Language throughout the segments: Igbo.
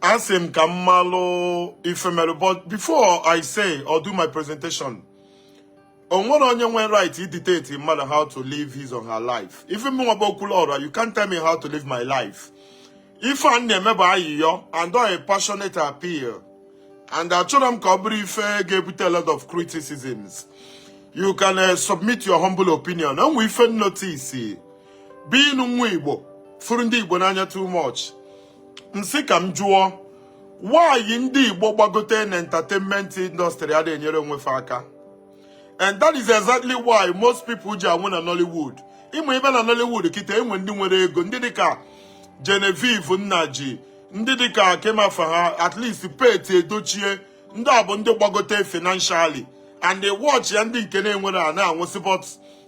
asị m ka m malụ ife mere but before i say or do my presentation o nwerọ onye nwere right idictate mmadụ how to live his or her life even m nwa bụ okwuluọra you can't tell me how to live my life ife a na-eme bụ ayịyọ and a passionate appeal and achọrọ m ka ọ bụrụ ife ga-ebute a lot of criticisms you can uh, submit your humble opinion enwe ife m notice being nwa igbo fụrụ ndị igbo n'anya too much m sị ka m jụọ why ndị igbo gbagote na entertainment industry ada enyere onwe fa aka and that is exactly why most people ji anwụ na nollywood even na nollywood kịta enwe ndị nwere ego ndị dịka genevieve nnaji ndị dịka nkem owoh ha at least pete edochie ndị a bụ ndị gbagote financially and watch ya ndị nke na-enwerọ a na-anwụsị but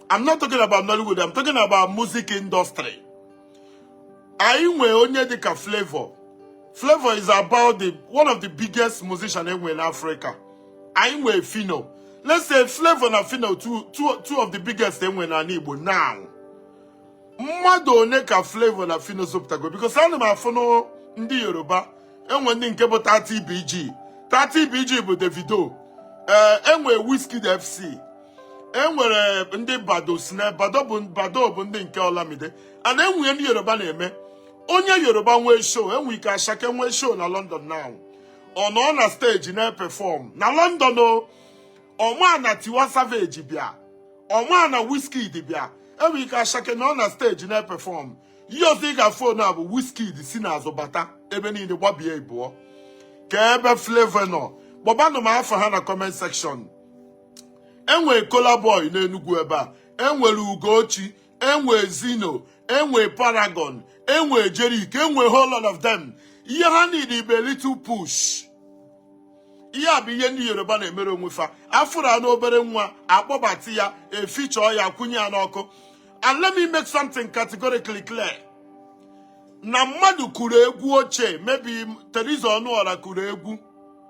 I'm not talking about Nollywood, I'm talking about music industry. Anyị nwee onye dịka Flavour. Flavour is about the one of the biggest musician enwe in Africa. Anyị nwee Phyno. Let's say Flavour na Phyno two, two, two of the biggest enwe na Igbo now. Mmadụ one ka Flavour na Phyno zụpụtago because ana m afụ na ndị yoruba enwe ndị nke bụ 30bg 30bg bụ davido ee eh, enwe wizkid fc enwere ndị baddo sneh baddo bụ baddo bụ ndị nke olamide and enwe ndị yoruba na-eme onye yoruba nwee show enwe ike asake nwee show na london now ọ nọ na steji na-epefọm na london o ọma na tiwa savage bịa ọma na wizkid bịa enwe ike asake nọ na steji na-epefọm ihe ọzọ ị ga-afụ now bụ wizkid si n'azụ bata ebe niile gbabie ịbụọ kee ebe flavour nọ kpọbanụ m afa ha na comment section enwe kolaboy n'enugwu ebe a enwere ugoccie enwe zyno enwe paragon enwe jeriq enwe whole lot of them ihe ha need bụ little push ihe a bụ ihe ndị yoruba na-emere onwe fa afụrụ any obere nwa akpọbata ya a feature ya kwụnye ya n'ọkụ and let me make something categorically clear na mmadụ kụrụ egwu ochie maybe Theresa Ọnụọra kụrụ egwu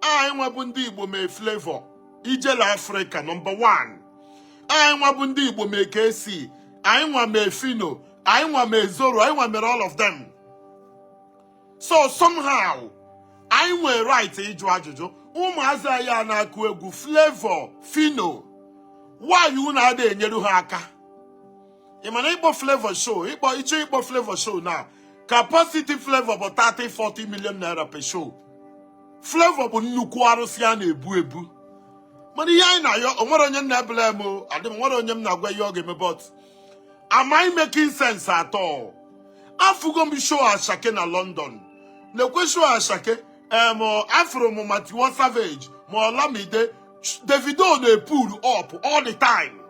anyị nwa bụ ndị igbo mee flavour ijele afrịka nọmba 1 anyị nwa bụ ndị igbo mee kcee anyị nwa mee phyno anyị nwa mee zoro anyị nwa mere all of them so somehow anyị nwee right ịjụ ajụjụ ụmụazị anyị a na-akụ egwu flavour phyno why unu ada enyere ha aka ị ma na ịkpọ flavour show ịkpọ ị chọọ ịkpọ flavour show now capacity flavour bụ 30 40 million naira per show flavour bụ nnukwu arụsị a na-ebu ebu mana ihe anyị na-ayọ onwere onye m na-eblame adị m nwere onye m na-agwa ihe ọ ga-eme but am i making sense at all afụgo m show asake na london nekwe show asake em afụrụ m ma tiwa savage ma olamide davido na-epull up all the time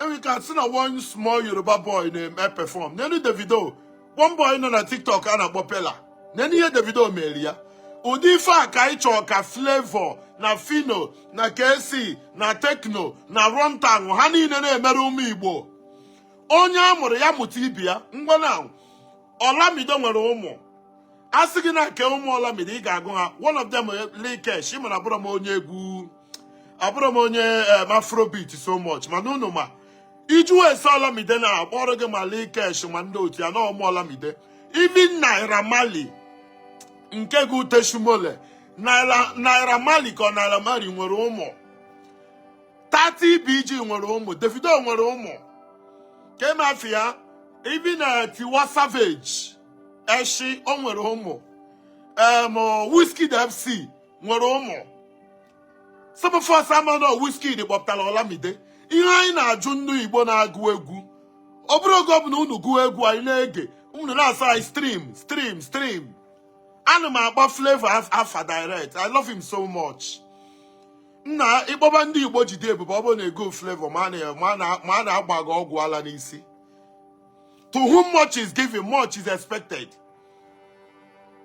enweka si na one small yoruba boy na-eme perform nenu davido one boy nọ na tiktok a na-akpọ peller nenu ihe davido mere ya ụdị ife a ka anyị chọọ ka flavour na phyno na kcee na tekno na runtown ha niile na-emere ụmụ igbo onye a mụrụ ya mụta ibe ya ngwanụ olamide nwere ụmụ a sị gị na nke ụmụ olamide ị ga-agụ ha one of them lil kesh ị ma na abụrọ m onye egwu abụrọ m onye eh, afrobeat so much mana unu ma ị jụọ ese olamide na a kpọọrọ gị ma lil kesh ma ndị otu ya na ụmụ olamide even naira marley nke gbutesị imole naira marley ka ọ naira marley nwere ụmụ 30 bg nwere ụmụ davido nwere ụmụ ke mafia even tiwa savage eshi o nwere ụmụ em wizkid fc nwere ụmụ some of us ama na Wizkid kpọpụtara Olamide ihe anyị na-ajụ ndị Igbo na-agụ egwu ọ bụrụ oge ọbụla unu gụọ egwu anyị na-ege unu na-asị anyị stream stream stream ana m akpọ Flavour afa direct I love him so much nna ị kpọba ndị Igbo jide ebube ọ bụrụ na egwu Flavour ma a na-agba gị ọgwụ ala n'isi to whom much is given much is expected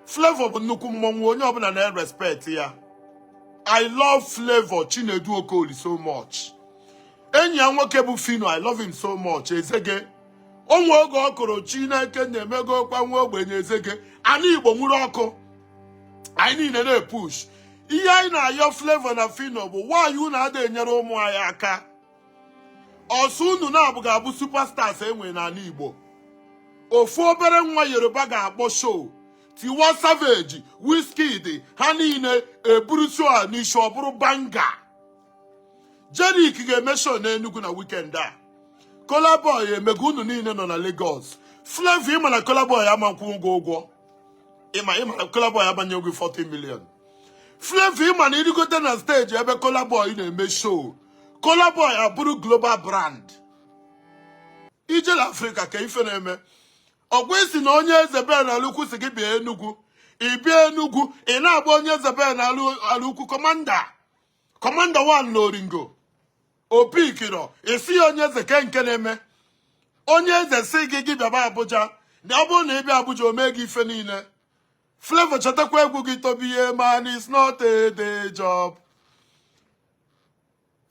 Flavour bụ nnukwu mmọnwụ onye ọbụla na-respect ya I love Flavour Chinedu Okoli so much enyi ya nwoke bụ Phyno I love him so much Ezege o nwe oge ọ kụrụ Chineke nna emegokwa nwa ogbenye Ezege ana Igbo nwuru ọkụ anyị niile na-epush ihe anyị na-ayọ Flavour na Phyno bụ why unu ada enyere ụmụ anyị aka ọ sọ unu naabọ ga-abụ superstars e nwe n'ala Igbo ofu obere nwa Yoruba ga-akpọ show Tiwa Savage Wizkid ha niile eburu show a n'isi ọ bụrụ banger Jeriq ga-eme show n'Enugu na weekend a Kolaboy emego unu niile nọ na Lagos Flavour ị ma na Kolaboy ama akwụ ụgwọ ụgwọ ị ma ị ma na Kolaboy abanye ụgwọ 40 million Flavour ị ma na i rigote na stage ebe Kolaboy na-eme show Kola Boy abụrụ global brand ijele Afrịka kee ife na-eme ọgwa isi na onye eze bee na alụkwu sị gị bịa Enugu ị bịa Enugu ị na-agba onye eze bee na alụkwu kọmanda wan na oringo opi ikiro isi ya onye eze kee nke na-eme onye eze sị gị gị bịaba Abuja na ọ bụrụ na ị bịa Abuja o mee gị ife niile Flavour chetakwa egwu gị to be a man is not a day job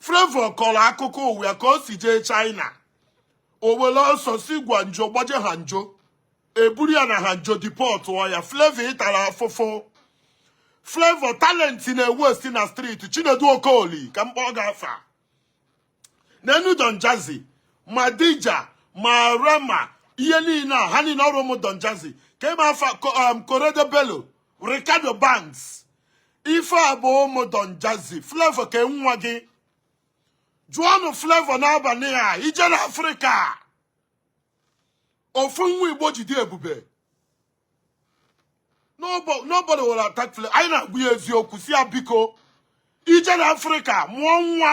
Flavour kọrọ akụkọ ụwa ka o si jee China o were ọsọ si Guangzhou gbaje Hangzhou eburu ya na Hangzhou dipọtụọ ya Flavour ịtara afụfụ Flavour talenti na-ewesti na streeti Chinedu Okoli ka m kpọọ gị afa neenụ Don Jazzy ma Dija ma Rema ihe niile a ha niile ọ bụ ụmụ Don Jazzy ka ịma afa Korede Bello Reekado Banks ife a bụ ụmụ Don Jazzy Flavour kee nwa gị jụọnụ Flavour n'abalị a ijele Afrịka ofu nwa Igbo ji dị ebube nobody will attack Flavour anyị na-agwa ya eziokwu sị ya biko ijele Afrịka mụọ nwa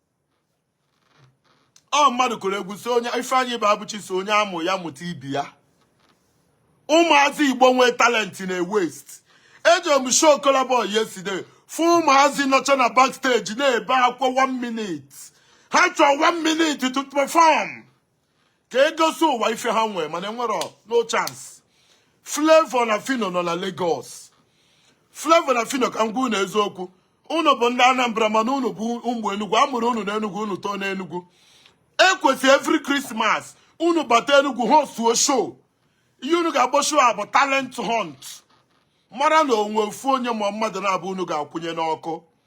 ọ mmadụ kụrụ egwu sị onye Ifeanyi Ibeabuchi sị onye a mụọ ya mụta ibe ya ụmụazị Igbo nwee talenti na-ewesti eje m show Kola Boy yesterday fụ ụmụazị nọcha na backstage na-ebe akwa 1 minute ha chọọ 1 minute to perform ka e gosi ụwa ife ha nwee mana enwere no chance Flavour na Phyno nọ na Lagos Flavour na Phyno ka m gwa unu eziokwu unu bụ ndị Anambra mana unu bụ ụmụ Enugu a mụrụ unu n'Enugu unu too n'Enugu ekwesị every Christmas unu bata Enugu hostuo show ihe unu ga-akpọ show a bụ talent hunt mara na o nwe ofu onye ma mmadụ naabọ unu ga-akwụnye n'ọkụ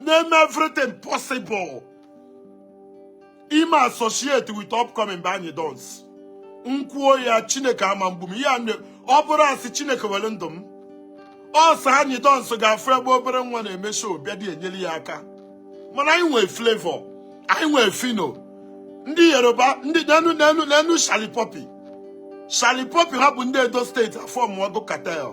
na-eme everything possible ime associate with upcoming but Anyidons m kwuo ya chineke ama egbu m ihe a na- ọ bụrụ asị chineke were ndụ m ọ sọ Anyidons ga-afụ ebe obere nwa na-eme show bịa dị enyere ya aka mana anyị nwee Flavour anyị nwee Phyno ndị yoruba ndị neenụ Shallipopi Shallipopi ha bụ ndị edo steeti afọmụọgo cartel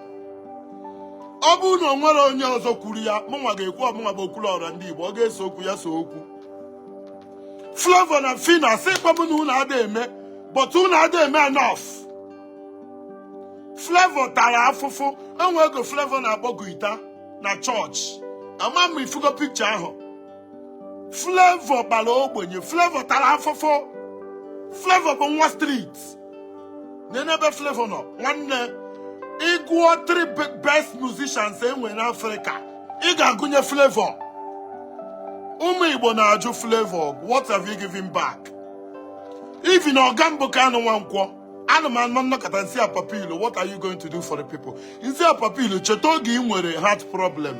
ọ bụrụ na o nwerọ onye ọzọ kwuru ya mụnwa ga-ekwu ọ mụnwa bụ okwulu ọra ndị Igbo ọ ga-ese okwu ya see okwu Flavour na Phyno asịkwọ m na unu ada eme but unu ada eme enough Flavour tara afụfụ nwee ego Flavour na-akpọ guita na chọọchị ama m ma ị fụgo pikcha ahụ Flavour gbara ogbenye Flavour tara afụfụ Flavour bụ nwa street nene ebe Flavour nọ nwanne ị gụọ three be- best musicians e nwee n'Africa ị ga-agụnye Flavour ụmụ Igbo na-ajụ Flavour what have you given back even ọga m bụ Kanu Nwankwo ana m anọ m nọkata m sị ya Papilo what are you going to do for the people m sị ya Papilo cheta oge ị nwere heart problem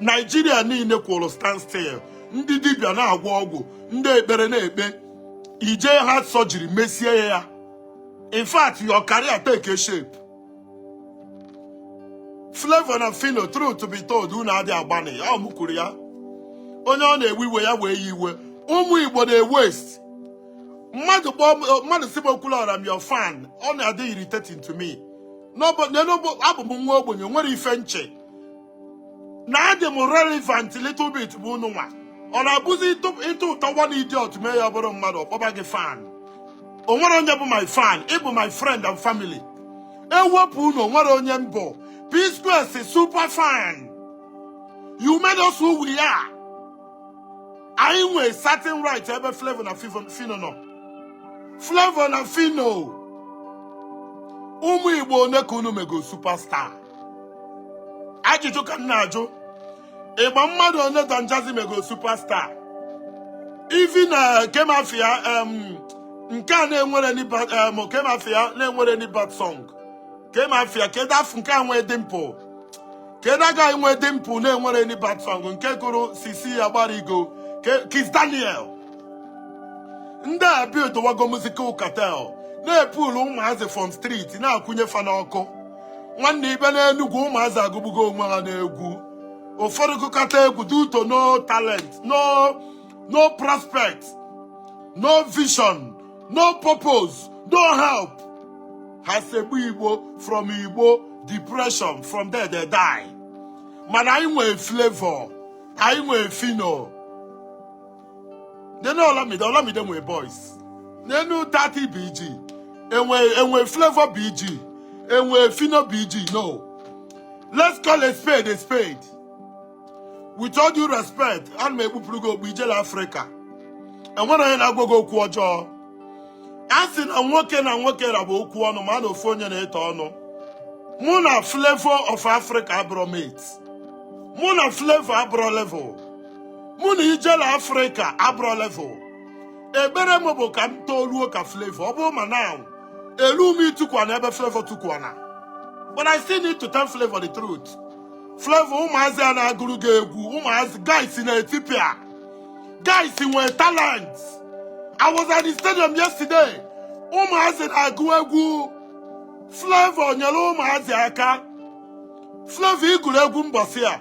naijiria niile kwụrụ standstill ndị dibịa na-agwọ ọgwụ ndị ekpere na-ekpe ị jee heart surgery mesie ya in fact your career take a shape Flavour na Phyno truth to be told unu adị agbanị ya m kwuru ya onye ọ na-ewe iwe ya wee ya iwe ụmụ Igbo na-ewaste mmadụ kpọọ mmadụ sị m Okwuluora I'm your fan ọ na-adị irritating to me n'ọbụ abụ m nwa ogbenye nwere ife m che na adị m relevant little bit bụ unu nwa ọ na-abụzi ị tutor one idiot mee ya bụrụ mmadụ ọ kpọba gị fan o nwerọ onye bụ my fan ị bụ my friend and family ewepụ unu o nwerọ onye m bụ P-Square sị super fan you made us who we are anyị nwee certain right ebe Flavour na Phyno nọ Flavour na Phyno ụmụ Igbo one ka unu mego superstar ajụjụ ka m na-ajụ ị ma mmadụ one Don Jazzy mego superstar even kee ma afa ya em, nke a na-enwerọ any ba- em, kee ma afa ya na-enwerọ any bad song kee ma afa ya kedu afa nke a nwee dimple kedu that guy nwee dimple na-enwerọ any bad song nke gụrụ Sisi Agbarigo Ke- Kiss Daniel ndị a buildwago musical cartel na-epull ụmụazị from street na-akwụnye fa n'ọkụ nwanne ị bịa n'enugwu ụmụazị agụgbugo onwe ha n'egwu ụfọdụ gụkata egwu due to no talent no no prospect no vision no purpose no help ha seba igbo from igbo depression from there they die mana anyị nwee Flavour anyị nwee Phyno nenu olamide olamide nwee boys nenu 30 bg e nwee e nwee Flavour bg e nwee Phyno bg no let's call a spade a spade with all due respect ana m ekpupụrụ gị okpu ijele afrịka o nwerọ onye na-agwa gị okwu ọjọọ a sị na nwoke na nwoke ra bụ okwu ọnụ mana ofu onye na-eto ọnụ mụ na Flavour of africa abụrọ mate mụ na Flavour abụrọ level mụ na ijele afrịka abụrọ level ekpere m bụ ka m toluo ka flavour ọ bụrụ ma na elu m itukwa na ebe flavour tukwa na but i still need to tell flavour the truth flavour ụmụazị a na-agụrụ gị egwu ụmụazị guys na-etipịa guys nwee talent i was at the stadium yesterday ụmụazị na-agụ egwu flavour nyere ụmụazị aka flavour ị gụrụ egwu mbọsị a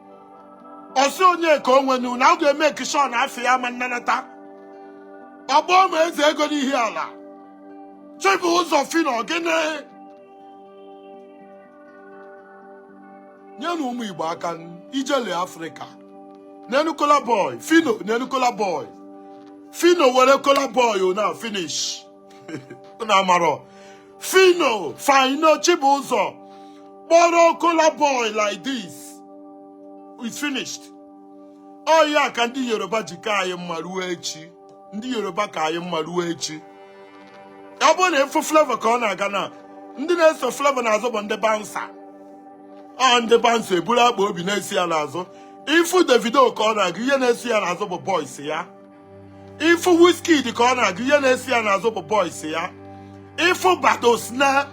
ọ sị onye ka o nwenu na ọ ga-eme occasion afọ ya ma nnanata ọgbọ ma eze ego n'ihiala chibụzọ phyno gịnị nyenụ ụmụ igbo aka ijele afrịka nenu kola boy phyno nenu kola boy phyno were kola boy na finish na-amarọ phyno phyno chibụzọ kpọrọ kola boy like this it's finished ọ ya ka ndị yoruba ji ka anyị mma ruo echi ndị yoruba ka anyị mma ruo echi ọ bụrụ na ị fụ flavour ka ọ na-aga na ndị na-eso flavour n'azụ bụ ndị bouncer ọ ndị bouncer eburu akpụ obi na-eso ya n'azụ ị fụ davido ka ọ na-aga ihe na-eso ya n'azụ bụ boys ya ị fụ Wizkid ka ọ na-aga ihe na-eso ya n'azụ bụ boys ya ị fụ Baddo Sneh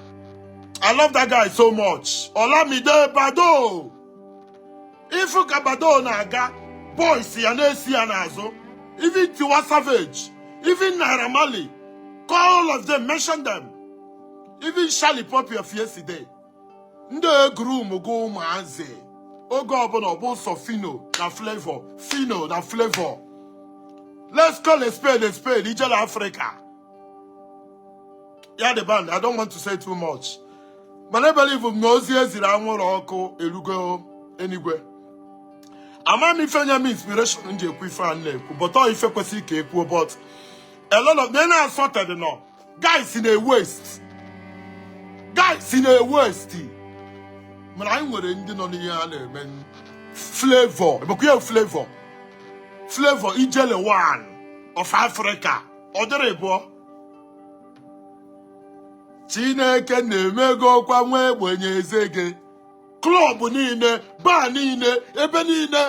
I love that guy so much Olamide Baddo ị fụ ka Baddo na-aga boys ya na-eso ya n'azụ even Tiwa Savage even Naira Marley call all of them mention them even Shallipopi of yesterday ndị egroomugo ụmụazị oge ọbụla ọ bụ sọ phyno na flavour phyno na flavour let's call a spade a spade ijele afrịka ya the band i don't want to say too much mana ebelivu m na ozi e ziri anwụrụ ọkụ erugo enigwe ama m ife nye m inspiration m ji ekwu ife a na-ekwu but ọ ife kwesịrị ka e kwuo but elolo na ị na-asọtedị nọ guys na-ewaste guys na-ewaste mana anyị nwere ndị nọ n'ihe a na-eme flavour ebekwa ya flavour flavour ijele one of africa ọ dịrọ ịbụọ chineke na-emegokwa nwa ogbenye ezege club niile bar niile ebe niile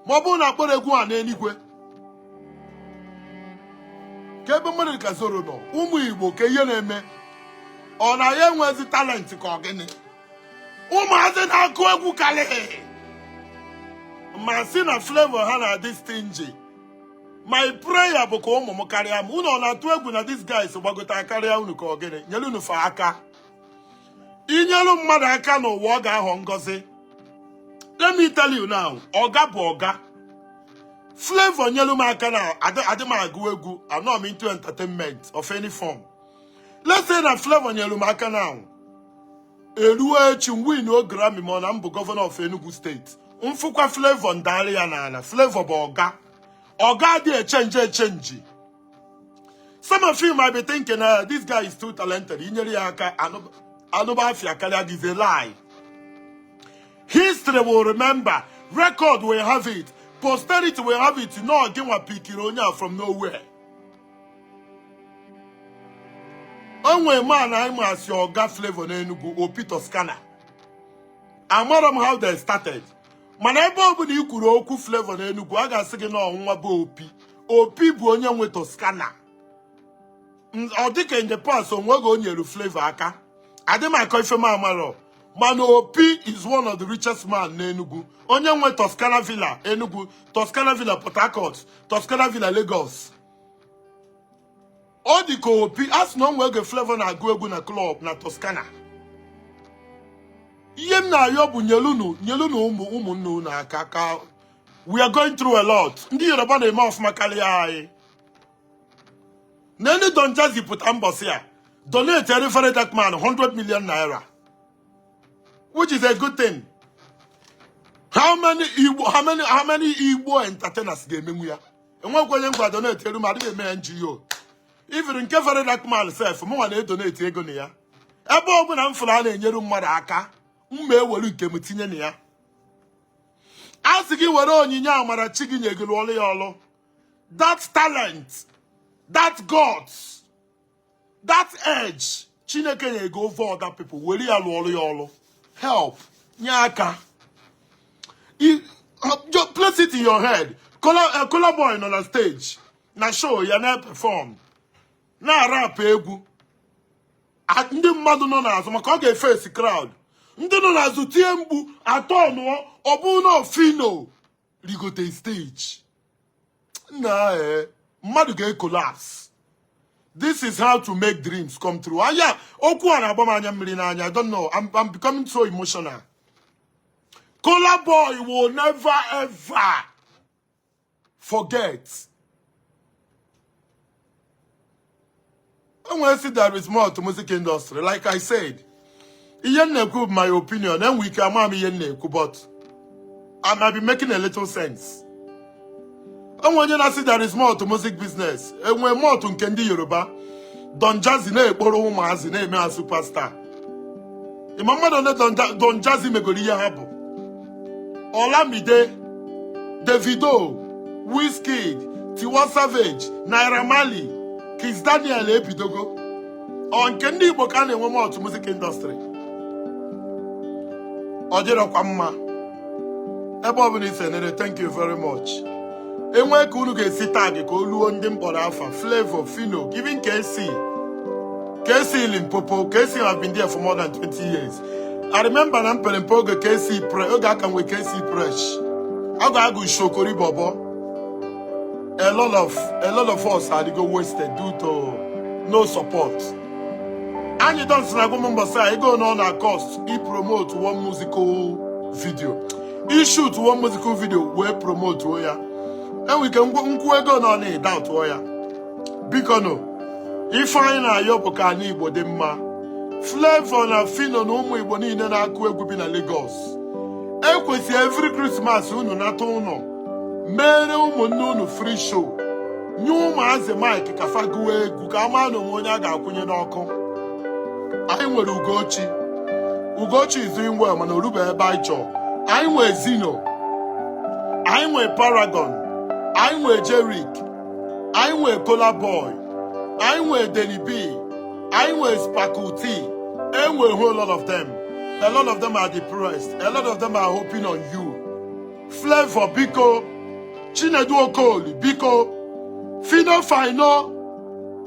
ma ọ bụrụ na a kpọrọ egwu a n'eluigwe ka ebe mmadụ ka zoro nọ ụmụ igbo ka ihe na-eme ọ na ha enwezi talent ka ọ gịnị ụmụazị na-akụ egwu karịa gị ma si na flavour ha na-adị stingy my prayer bụ ka ụmụ m karịa m unu ọ na-atụ egwu na these guys gbagota karịa unu ka ọ gịnị nyere unu fa aka inyelu mmadụ aka n'ụwa ọ ga-aghọ ngọzi let me tell you now ọga bụ ọga Flavour nyelu m aka na adị m agụ egwu anọ m into entertainment of any form let's say na Flavour nyelu m aka now eruo echi m win o Grammy ma ọ na m bụ gọvanọ of Enugu steeti m fụkwa Flavour m dalị ya n'ala Flavour bụ ọga ọga adị echenji echenji some of you might be thinking na uh, this guy is too talented inyere ya aka anụba afa ya karịa gị is a lie history will remember record will have it posterity will have it na ọ gịnwa pikiri onye a from nowhere o nwe man anyị ma as ọga Flavour n'Enugu Opi Toscana amara m how they started mana ebe ọbụna i kwuru okwu Flavour na Enugu a ga-asị gị na ọ nwa boy Opi Opi bụ onye nwe Toscana ọ dịka in the past o nwe oge o nyere Flavour aka adị m akọ ife m amarọ mana Opi is one of the richest man n'Enugu onye nwe Toscana Villa Enugu Toscana Villa Port Harcourt Toscana Villa Lagos ọ dị ka Opi a sị na o nwe oge Flavour na-agụ egwu na klọb na Toscana ihe m na-ayọ bụ nyelunu ụmụnne unu aka ka we are going through a lot ndị Yoruba na-eme ọfụma karịa anyị nene Don Jazzy pụta mbọsị a donate ere VeryDarkMan 100 million naira which is a good thing how many Igbo entertainers ga-emenwu ya enwekwa onye m gwa donate eru m adị m eme NGO even nke VeryDarkMan sef mụnwa na-edoneti ego na ya ebe ọbụna m fụrụ a na-enyere mmadụ aka m ma ewere nke m tinye na ya a sị gị were onyinye amara chi gị nye gị rụọlụ ya ọlụ that talent that guts that edge chineke nye gị over other people were ya lụọrụ ya ọrụ help nye aka just place it in your head Kolaboy nọ na stage na show ya na perform na rap egwu ndị mmadụ nọ n'azụ maka ọ ga-efesi crowd ndị nọ n'azụ tie mkpu a tọnụọ ọ bụ na ọ Phyno rigote steji nna ee mmadụ ga-ekolaps this is how to make dreams come true aya okwu a na-agba m anya mmiri n'anya i don't know I'm becoming so emotional Kolaboy will never ever forget enwere sị there is more to music industry like I said ihe m na-ekwu bụ my opinion enwe ike ama m ihe m na-ekwu but I might be making a little sense enwe onye na-asị there is more to music business enwe more to nke ndị Yoruba Don Jazzy na-ekporo ụmụazị na-eme ha superstar ị ma mmadụ ole Don Jazzy megoro ihe ha bụ Olamide Davido Wizkid Tiwa Savage Naira Marley Kizz Daniel ebidogo ọ nke ndị Igbo ka a na-enwe m otu music industry ọ dịrọkwa mma ebe ọ bụla i si enere thank you very much e nwee ka unu ga-esi tag ka o luo ndị m kpọrọ afa Flavour Phyno even KC KC Limpopo KC have been there for more than 20 years I remember na mpere mpe oge KC pre oge a ka nwe KC Presh oge a gụ Shokori Bobo a lot of a lot of us adịgo wasted due to no support Anyidons na-agwa m mbọsị a ego one ọ na-cost i promote one musical video i shoot one musical video wee promotuo ya e nwere ike m kwuo ego one ọ na i doubtuo ya bikonụ ife anyị na-ayọ bụ ka ana Igbo dị mma Flavour na Phyno na ụmụ Igbo niile na-akụ egwu bi na Lagos e kwesị every Christmas unu nata ụnọ meere ụmụnne unu free show nye ụmụazị mic ka fa gụwa egwu ka a ma na o nwe onye a ga-akwụnye n'ọkụ anyị nwere Ugoccie Ugoccie is doing well mana o rube ebe anyị chọrọ anyị nwe Zyno anyị nwe Paragon anyị nwe Jeriq anyị nwe Kolaboy anyị nwe Denny B anyị nwe Sparkle Tee e nwe a whole lot of them a lot of them are depressed a lot of them are hoping on you Flavour biko Chinedu Okoli biko Phyno Phyno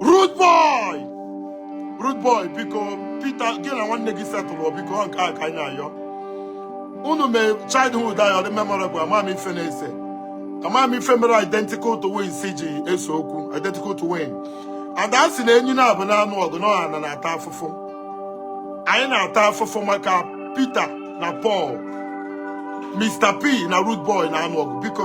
Rudeboy Rudeboy biko Peter gị na nwanne gị settle biko nke a ka anyị na-ayọ unu mee childhood anyị ọ dị memorable ama m ife na-ese ama m ife mere identical twins ji ese okwu identical twin and a sị na enyi naabọ na-anụ ọgụ na ọ ana na-ata afụfụ anyị na-ata afụfụ maka Peter na Paul Mr. P na Rudeboy na-anụ ọgụ biko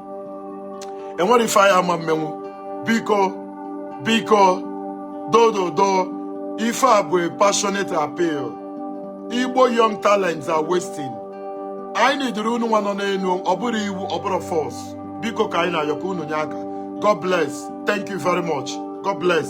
e nwere ife anyị ama emenwu biko biko doo doo doo ife a bụ a passionate appeal Igbo young talents are wasting anyị needuru unu nwa nọ n'enu ọ bụrọ iwu ọ bụrọ force biko ka anyị na-ayọ ka unu nye aka God bless thank you very much God bless